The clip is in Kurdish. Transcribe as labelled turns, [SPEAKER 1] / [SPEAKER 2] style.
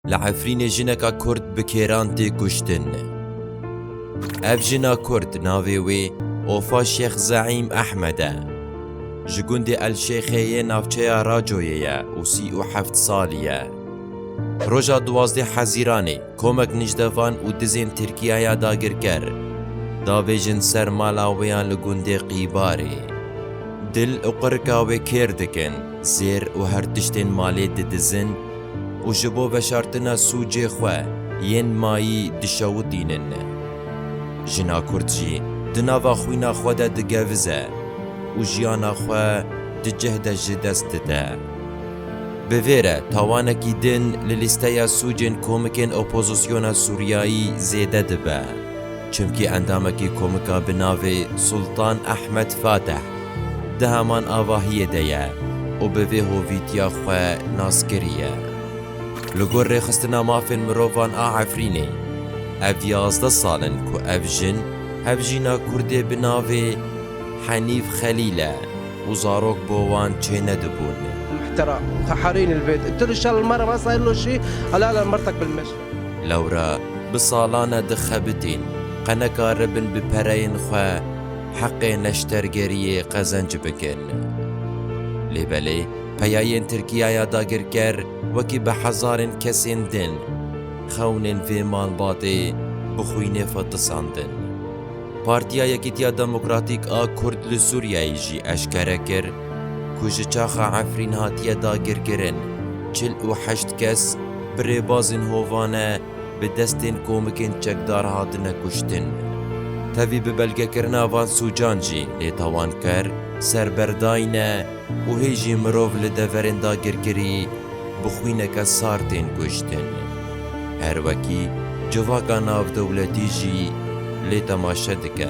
[SPEAKER 1] Li Efrînê jineka Kurd bi kêran tê kuştin. Ev jina Kurd navê wê Ofa Şêx Zeîm Ehmed e. Ji gundê El Şêxê yê navçeya Racoyê ye û sî û heft salî ye. Roja duwazdeh Hezîranê komek nijdevan û dizên Tirkiye ya dagirker davêjin ser mala wê ya li gundê Qîbarê. Dil û qirika wê kêr dikin, zêr û her tiştên malê didizin, û ji bo veşartina sûcê xwe yên mayî dişewitînin. Jina Kurd jî di nava xwîna xwe de digevize û jiyana xwe di cih de ji dest dide. Bi vê re tawanekî din li lîsteya sûcên komikên opozisyona Sûriyayî zêde dibe, çimkî endamekî komika bi navê Sultan Ahmed Fateh, Di heman avahiyê de ye û bi vê hovîtiya xwe naskirî ye. Li gor Rêxistina Mafên Mirovan a Efrînê, ev yazdeh sal in ku ev jin hevjîna Kurdê bi navê Henîf Xelîl e û zarok bo wan çênedibûn. Muhtera
[SPEAKER 2] Taharîn il vêt tu li şal ma re ma sayil lo şî ala ala mertek bil meş. Lewra
[SPEAKER 1] bi salan e dixebitîn qeneka ribin bi pereyên xwe. heqê neştergeriyê qezenc bikin. Lê belê peyayên Tirkiyaya dagirker wekî bi hezarên kesên din xewnên vê malbatê bi xwînê xwe tisandin. Partiya Yekîtiya Demokratîk a Kurd li Sûriyeyê jî eşkere kir ku ji çaxa Efrîn hatiye dagirkirin çil û heşt kes bi rêbazên hovane bi destên komikên çekdar hatine kuştin. Tevî bi belgekirina van sûcan jî nêtawanker ser ber dayne û hê jî mirov li deverên dagirkirî bi xwîneke sar tên kuştin. Her wekî civaka navdewletî jî lê temaşe dike.